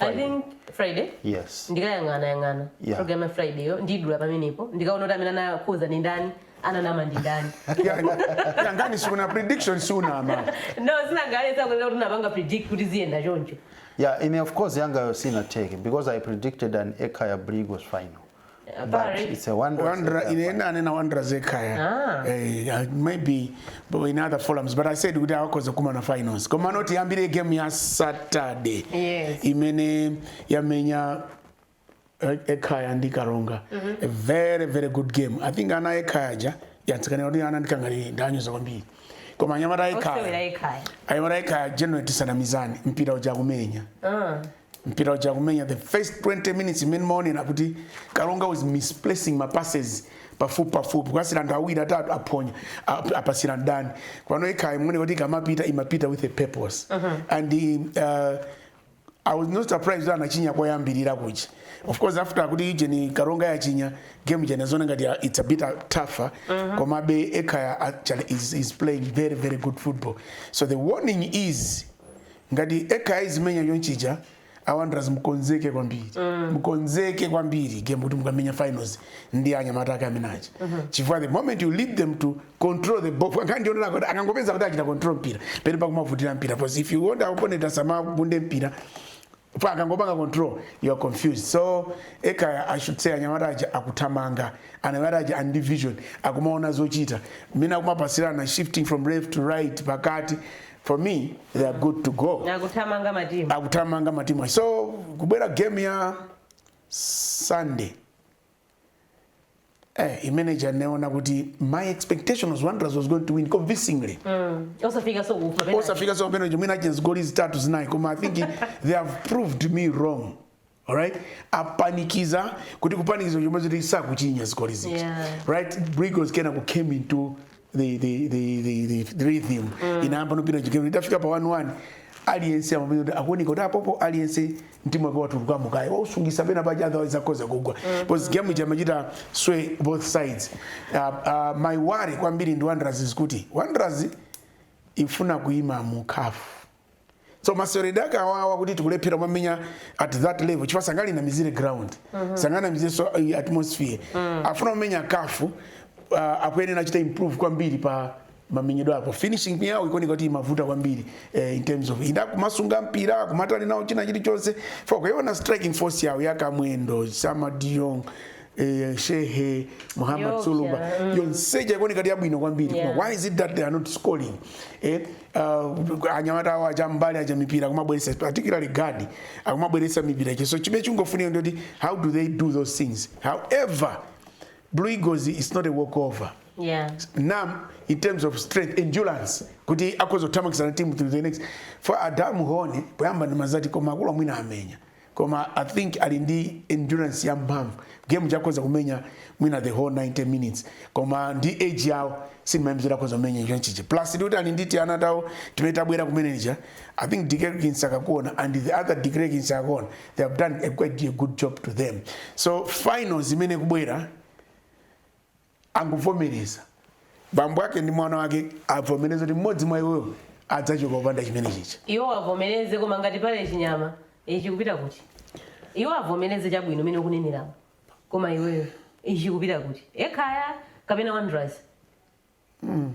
I think Friday yes ndikayang'ana yang'ana Yeah. program ya Friday yo ndiidula pamenepo ndikaona kuti amene anakhoza ndi ndani ananama ndi ndani yanga ine si inali prediction sindinaname no sindinangalesa kunena kuti ndinapanga predict kuti ziyenda choncho yeah ine of course yangayo sinatheke because i predicted an ekhaya blue eagles final Uh, but Barry. it's a wonder. Wonder in any and a wanderers ekhaya. Ah. Eh, uh, maybe but in other forums but I said kuti awa akhoza kukumana finals. Komano tiyambire game ya Saturday. Yes. Imene yamenya eh, ekhaya ndi karonga a very very good game i think ana ekhaya ja yatsikana kuti ana ndikangani ndanyoza kwambiri koma anyamata Osewera ekhaya ekhaya. anyamata ekhaya general tisanamizani mpira uja kumenya Uh, mpira uja akumenya the first 20 minutes mmene ndimaonera kuti karonga was misplacing ma passes pafupi pafupi kupasira anthu awiri atatu aphonya ap- apasira ndani pano ekhaya muone kuti ikamapita imapita with a purpose and uh, I was not surprised that anachinya koyambirira kuchi of course after kuti ijeni karonga yachinya game jene zone ngati ya- it's a bit tougher komabe ekhaya actually is, is playing very very good football so the warning is ngati ekhaya izimenya chonchija awanderers mkonzeke kwambiri mm. mkonzeke kwambiri game kuti mukamenya finals ndi anyamata ake amene aja mm -hmm. chifukwa the moment you let them to control the ball akhani ndionera kuti akangopeza kuti achita control mpira pamene pakumavutira mpira because if you want opponent asamagunde mpira pa akangopanga control you are confused so ekhaya i should say anyamata aja akuthamanga anyamata aja ali ndi vision akumaona zochita mmene akumapasirana shifting from left to right pakati for me they are good to go akuthamanga matimu akuthamanga matimu so kubwera game ya sunday eh, imene ija ndinaona kuti my expectation was wanderers was going to win convincingly mm. osafikanso kufa osafikanso penalty mwina achinya zigoli zitatu zinayi koma i think they have proved me wrong Alright? Apanikiza kuti kupanikiza chomwe ziti sakuchinya zigoli ziti. Yeah. Right? Blue Eagles kenako came into the the the the, the, the rhythm. Mm. Inayamba nopita chikelo itafika pa 1-1 aliyense amapeza kuti akuoneka kuti apapa aliyense mtima wake watulukamo kaye wausungisa pena paja otherwise akhoza kugwa because game ija imachita sway both sides uh, uh, my worry kwambiri ndi wanderers ndikuti wanderers ifuna kuima mu caf so maseweredwe ake awawa kuti tikulephera kumamenya at that level chifukwa sanganamizire ground mm -hmm. sanganamizirenso uh, atmosphere mm -hmm. afuna kumenya caf uh, akuyenera achita improve kwambiri pa mamenyedwe apo finishing yawo ikuoneka kuti imavuta kwambiri eh, in terms of ida kumasunga mpira kumatani nawo china chilichonse fukwa ukaona striking force yawo ya kamwendo sama tanjong eh, shehe muhammad Yo, sulumba yeah, mm. yonseja ikuoneka kuti yabwino kwambiri yeah. why is it that they are not scoring eh, uh, anyamata awo aja mbali aja mipira akumabweretsa particularly gaddie akumabweretsa mipira ichi so chimene chingofunika ndoti how do they do those things however blue eagles is not a walkover yeah. nam in terms of strength endurance kuti akhoza kuthamangitsana timu to the next for ada mhone poyamba ndimazati koma akuluwa mwina amenya koma i think ali ndi endurance ya mphamvu game ija akhoza kumenya mwina the whole 90 minutes koma ndi age yawo sindimayembekeza akhoza kumenya chonchichi plus ndikuti ali ndi tiana tawo timene tabwera kumeneja i think deklerk msakakuona and the other deklerk msakakuona they have done a quite a good job to them so finals imene ikubwera angovomereza, bambo ake ndi mwana wake avomereze kuti mmodzi mwa iwowo adzachoka opanda chimenechija. Iwowo avomereze, koma ngati pali chinyama, ichi chikupita kuti? Iwo avomereze chabwino mene ukuneneramu. Koma iweyo, ichi chikupita kuti? Ekhaya kapena Wanderers? Mm.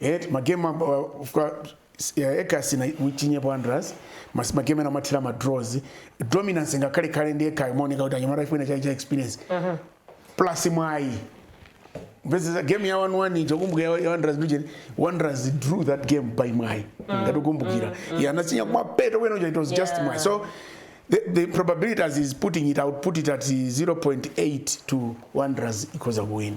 eti magemu Ekhaya sichinyepo wanderers mas- magemu ena amathera ma draws dominance ngakhale khale ndi Ekhaya imaoneka kuti anyamata ikufuna chani cha experience plus mwayi ndimvetsetsa game ya 1-1 ija kumbuka ya ya wanderers region wanderers drew that game by mwayi ngati ukukumbukira yeah anachinya kumapeto kwenikweni uja it was just Yeah. mwayi so the, the probability as he's putting it out put it at 0.8 to wanderers ikhoza kuwina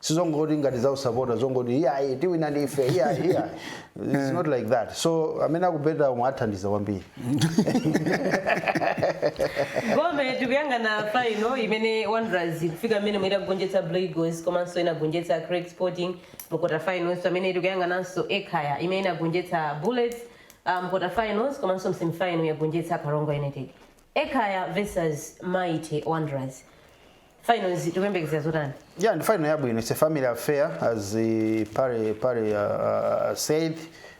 sizongoti ngati zausapota zongoti iyayi tiwina ndife iyayi iyayi it's not like that so amene akubeta omwe athandiza kwambiri gome tikuyang'ana faino imene wanderers kufika mmenemu itagonjetsa blue eagles komanso inagonjetsa creck sporting mu quarter finals pamene tikuyang'ananso ekhaya imene inagonjetsa bullets uh, mu quarter finals komanso mu semifinal yagonjetsa karonga united ekhaya versus mighty wanderers final izi tikuyembekezera zotani yeah ndi final yabwino it's a family affair as uh, pare pare uh, uh, said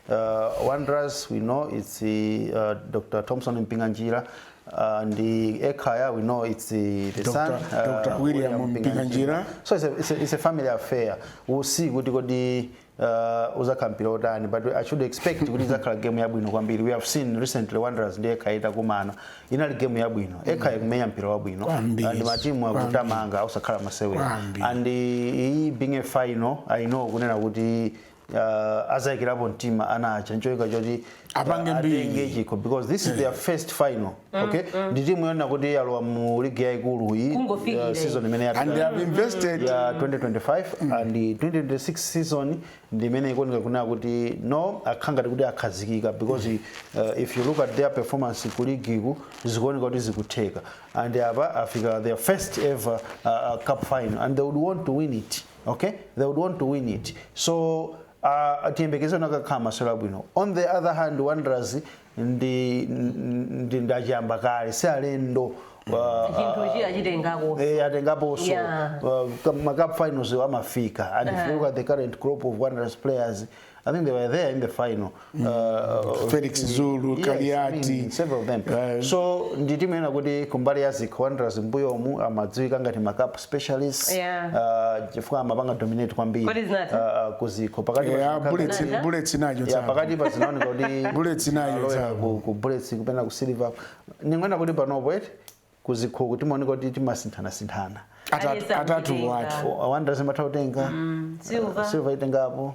uh, wanderers we know it's uh, dr thompson mpinganjira uh, ndi ekhaya we know it's the, the Dr. son Dr. William Mpinganjira. so it's a, it's, a, it's a family affair we'll see kuti kodi uh, uzakhala mpira otani but i should expect kuti izakhala game yabwino kwambiri we have seen recently wanderers ndi ekhaya itakumana inali game yabwino ekhaya ikumenya mpira wabwino Kwambiri. and matimu akutamanga osakhala masewera Kwambiri. and iyi being a final i know kunena kuti uh, azayikirapo mtima anachita kuyika choti apange atenge mbiri chikho because this is their first final okay ndi timu yonena kuti yalowa mu ligi yaikulu iyi Kungofikira uh, season imene and they yapita have invested ya 2025 and 2026 season ndi imene ikuoneka kunena kuti no akhala ngati kuti akhazikika because uh, if you look at their performance ku ligiku zikuoneka kuti zikutheka and apa afika their first ever uh, uh, cup final and they would want to win it okay they would want to win it so Uh, tiyembekeze kuti akakhala masewero abwino on the other hand wanderers ndi ndi achiyambakale si alendo atengapo so uh, macup finals amafika and if you look at the current crop of wanderers players i think they were there in the final mm. uh, Felix Zulu, yes, Kaliati mm, several of them. Uh, so ndi timu yonena kuti kumbali ya Zikho Wanderers mmbuyomu amadziwika ngati ma cup specialists yeah. uh, chifukwa amapanga dominate kwambiri uh, uh, ku Zikho pakati yeah, pa Bullets yeah. Bullets nayo yeah, pakati pa zinaoneka kuti Bullets nayo ku, ku Bullets kupenda ku Silver ningoenda kuti panopo eti ku Zikho kuti zimaoneka kuti timasinthana sinthana atatu atatuwa eti Wanderers imatha kutenga mm, Silver uh, Silver itengapo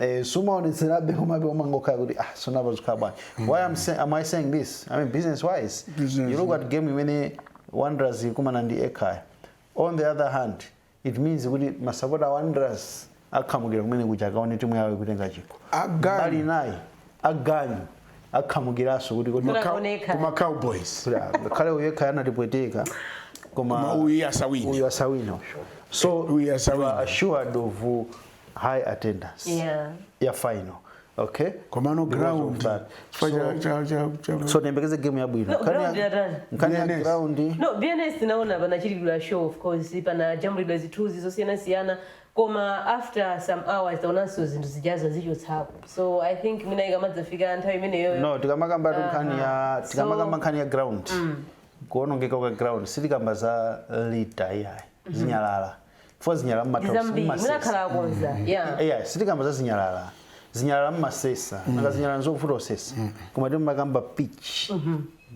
Eh, sumaonetserabe komabe umangokhala kuti ah si mapa zikhala bwanji why am, say, am i saying this i mean business wise Business. you look at game imene wanderers ikumana ndi ekhaya on the other hand it means kuti masapota a wanderers akhamukira kumene kuja akaone timu yawo ikutenga chikho Aganyu. mbali inayi aganyu akhamukiranso kuti kodi Koma- Kunaoneka. koma cowboys khale uyu ekhaya anatipweteka koma koma uyu asawine uyu asawina so Uyu asawina. you are assured of uh, high attendance Yeah. ya final okay komano Because of ground that. chifukwa cha- cha- cha- cha- so tiyembekeze game yabwino No, Nkhani ya- ground yatani? nkhani ya BNS. ground no bns naona panachitika show of course panajambulidwa zithunzi zosiyanasiyana koma after some hours taonanso zinthu zijazo zichotsapo so i think mwina ikamadzafika nthawi imeneyoyo no tikamakambatu nkhani ya So- tikamakamba nkhani ya ground kuonongeka kwa ground sitikamba za litter iyayi zinyalala chifukwa zinyalala ndi mumatha zambiri mwina mumasesa akhala akonza ya eya sitikamba za zinyalala zinyalala mmasesa nanga zinyalala nzovuta osesa koma tikukamba pitch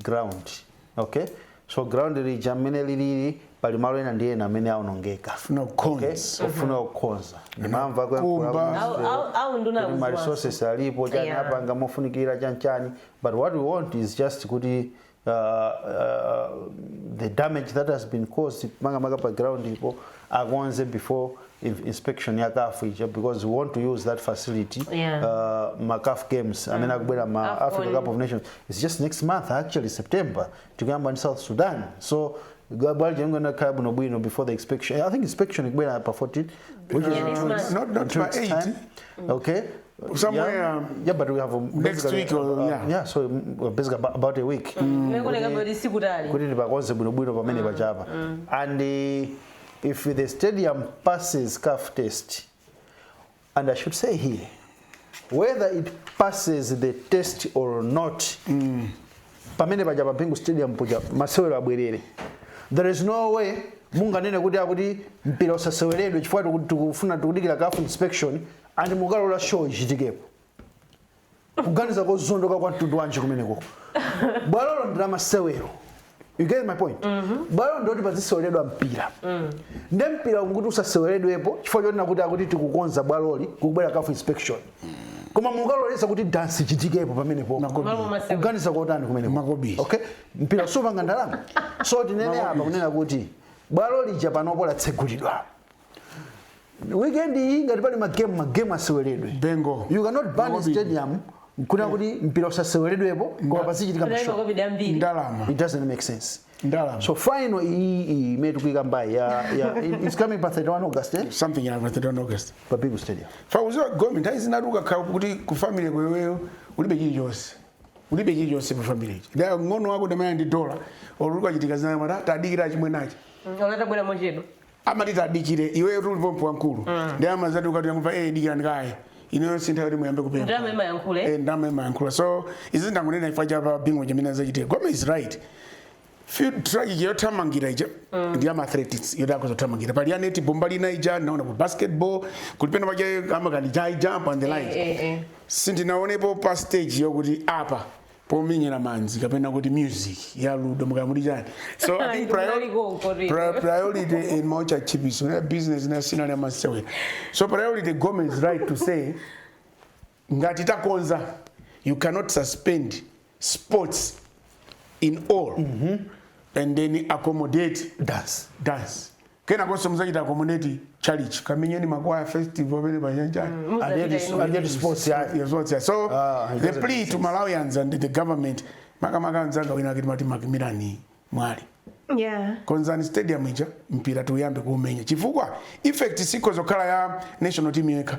ground okay so ground lija mmene lilili pali malo ena ndi ena amene aonongeka Funa Okay? kukonza. ofuna kukonza ndimamva Kumba. Au- au- au nduna ma akuziwa. resources alipo chanchani Yeah. apanga mofunikira chanchani but what we want is just kuti uh, uh, the damage that has been caused makamaka pa ground ipo akonze before in- inspection ya caf ija because we want to use that facility Yeah. uh, ma caf games amene akubwera ma Afcon. africa cup of nations it's just next month actually september tikuyamba ndi south sudan so bwalija ingona khala bwinobwino before the inspection i think inspection ikubwera pa 14 which is Yeah, next month. Not- not Two pa weeks' 8. time. okay Somewhere, yeah, um, yeah, but we have um, next basically, week or- uh, yeah. yeah, so um, we're basically about, about a week. Nakuoneka kuti sikutali. kuti tipakonze bwinobwino pamene pajapa and eh, if the stadium passes caf test and i should say here whether it passes the test or not pamene paja pa bingu stadium puja masewero abwerere there is no way munganene kuti akuti mpira usaseweredwe chifukwa tiku- tikufuna tikudikira caf inspection And mukalola show ichitikepo kuganiza kozondoka kwa mtundu wanji kumeneko bwalolo ndila masewero you get my point bwalolo ndiloti paziseweredwa mpira nde mpira ukuti usaseweredwepo chifukwa choti akuti akuti tikukonza bwaloli kukubwera caf inspection koma mukaloleza kuti dansi ichitikepo pamenepo Malo masewero. kuganiza kotani kumeneko Makobiri. okay mpira supanga ndalama so tinene apa kunena kuti bwalo lija panopo latsegulidwa weekend iyi ngati pali magemu magemu aseweredwe bingu you cannot ban Ngobidi. stadium kunena kuti mpira usaseweredwepo koma pazichitika Unaiva mashow kobidi ambiri. ndalama it doesn't make sense ndalama so final iyi iyi imene tikuikambayi ya ya it- it's coming pa 31 august eh? something like that, I don't know, guys. pa bingu stadium fakuziwa gomi nthawi zinatu ukakhala kuti ku family iweyo ulibe chilichonse ulibe chilichonse pa family ichi wang'ono wako ndamene ndi dola oluka chitika zinamata tadikira chimwenachi Olata bwera mochedwa. amati tadikire iweyo tuli pompano wamkulu ndi amazati ukati yakumva eh dikirani kaye ineyo sintha yoti muyambe kupempha ndalama imayankhula eh? eh ndalama imayankhula so izi ndangonena ifa chapa bingo chimene azachitira game is right track yothamangira ija ndi ama athletics yoti akuzothamangira pali ya netball lina ija naona ku basketball kuli pena paja amakhala high jump and the like eh, eh. sindinaonepo pa stage yokuti apa pomenyera manzi kapena kuti music ya ludo mukaya muti chani so i think priori- pri- priority in much achievements na business na sina na masewe so priority government is right to say ngati takonza you cannot suspend sports in all and then accommodate dance dance kenakonso muzachita accommodate tchalitchi kamenyeni makwaya festival pena pachanichani so ah, the plea to malawians and the government makamaka anzanga wina akuti Matimaki Mirani Mwale Yeah. konzani stadium ija mpira tuyambe kuumenya chifukwa effect sikuzokhala ya national team yokha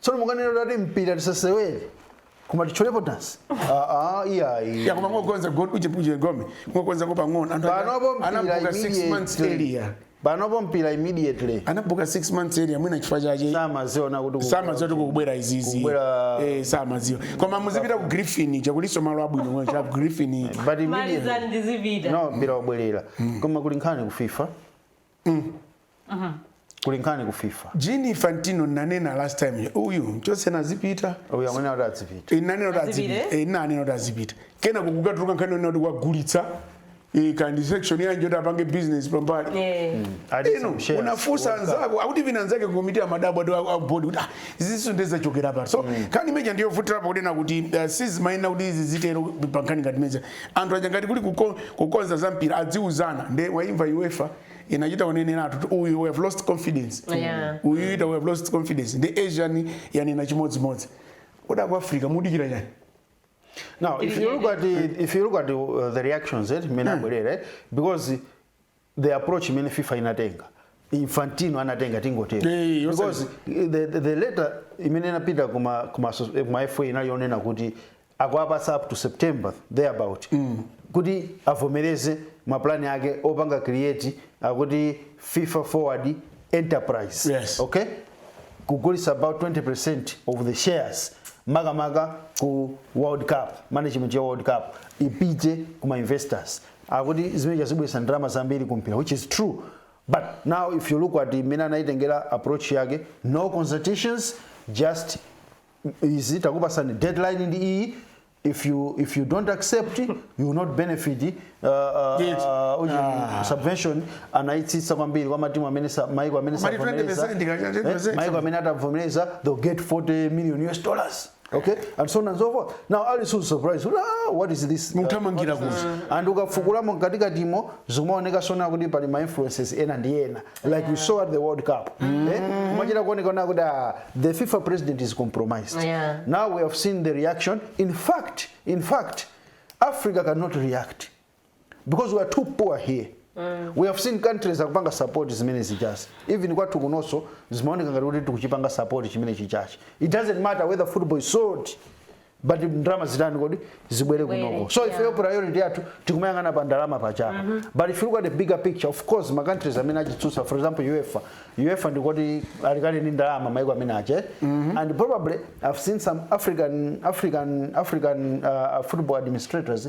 tsono mukunena kuti ati mpira tisasewere koma titcholepo dansi aa iyayi ya koma ngokonza kaye uje uje koma ngokonzako pang'ono anthu panopo mpira anabuka 6 months immediately earlier panopo mpira immediately anabuka 6 months earlier mwina chifukwa chache samaziona kuti ku- samadziwa kuti kubwera izizi Kubwera- eh samadziwa koma muzipita ku griffin cha kulinso malo abwino mwina cha griffin but immediately malizani tizipita now mpira wabwerera koma kuli nkhani ku fifa kuli nkhani ku fifa Gianni Infantino nanena last time uyu mchosena azipita uyu amene kuti adzipita inanena kuti Azipite? azipita Eh, ndinanena kuti azipita kena kukatuluka nkhani yonena kuti wagulitsa eh, kandi section yanji kuti apange business pambali Eh. Ati eno some shares. unafunsa World Cup. anzako akuti vina anzake komiti ya madabo ati a- a board kuti ah, iziso ndezachokera pati so nkhani imene ija ndiyovutirapo kunena kuti uh, sizimayenda kuti izi zitero pankhani ngati izi Anthu aja ngati kuli kuko- kukonza za mpira adziuzana nde waimva UEFA inachita uneneratu kuti uyu we have lost confidence Yeah. uyu ati we have lost confidence ndi Asian yanena chimodzimodzi kodi aku Africa mukudikira chani Now, if you look at the, if you look at the, uh, the reactions, eh, mina mm. because the approach imene fifa inatenga infantino anatenga tingotero Eh, yose- because the, the, the letter imene inapita kuma, kuma, asso- eh, kuma fa inali yonena kuti akuwapatsa up to september thereabout mm. kuti avomereze mapulani ake opanga create akuti fifa forward enterprise Yes. okay kugulitsa about 20% of the shares makamaka ku world cup management ya world cup ipite kuma investors akuti zimenezo zibweretsa ndalama zambiri ku mpira which is true but now if you look at mmene anayitengera approach yake no consultations just izi takupatsani deadline ndi iyi if you if you don't accept you will not benefit uh, uh, Yes. uh, uji- Ah. subvention anayitsitsa kwambiri kwa matimu amene sa- maiko amene Koma ndi sanavomereze. 20% kaja, 20%. Eh, maiko amene atavomereza they'll get 40 million us dollars okay and so on and so forth now ali so surprised kuti, ah, what is this Mukuthamangira What is this?" and ukafukulamo mkatikatimo zikumaoneka sona kuti pali ma influences ena ndi ena like you saw at the world cup eh? kumachita kuonekeratu kuti ah, the fifa president is compromised Yeah. now we have seen the reaction in fact in fact africa cannot react because we are too poor here mm. we have seen countries akupanga support zimene zijazi even kwathu kunonso zimaoneka ngati kuti tikuchipanga support chimene chijachi it doesn't matter whether football is sold but ndalama zitani kodi zibwere kunoko so ifeyo priority yathu tikumayang'ana pa ndalama pajapa mm-hmm. but if you look at the bigger picture of course ma countries amene akuchitsutsa for example uefa uefa ndi oti ali kale ndi ndalama maiko amene aja mm-hmm. and probably i've seen some african african african uh, football administrators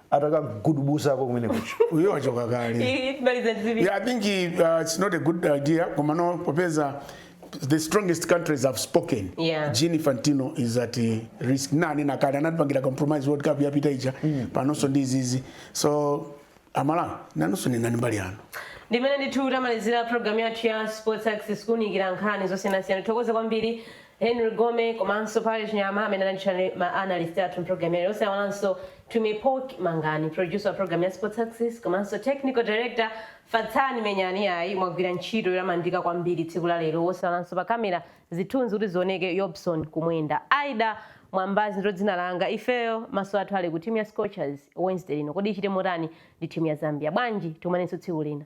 atakagudubuzako kumene kuja uyo wachoka kale yeah, i think uh, it's not a good idea komano popeza the strongest countries have spoken yeah. Gianni Infantino is at a risk nanga ndi kale anatipangira compromise world cup yapita ija mm. panonso ndi izizi so asamale nanunso nenani mbali yanu ndimene ndithu tamalizira programu yathu ya sports access kuunikira nkhani zosiyanasiyana tithokoze kwambiri Henry Gome komanso Parry Chinyama amene anali chabe ma analyst athu mpulogalamu yalero osaiwalanso Tumi Poc Mangani, producer wa pulogalamu ya Sports Access komanso Technical Director Fatsani Menyani iyayi mwagwira ntchito yotamandika kwambiri tsiku la lero osaiwalanso pa camera zithunzi kuti zioneke Yobson Kumwenda. Aida Mwambazi ndilo dzina langa. Ifeyo maso athu ali ku timu ya Scorchers Wednesday lino. Kodi ichite motani ndi timu ya Zambia? Bwanji tikumanenso tsiku lina.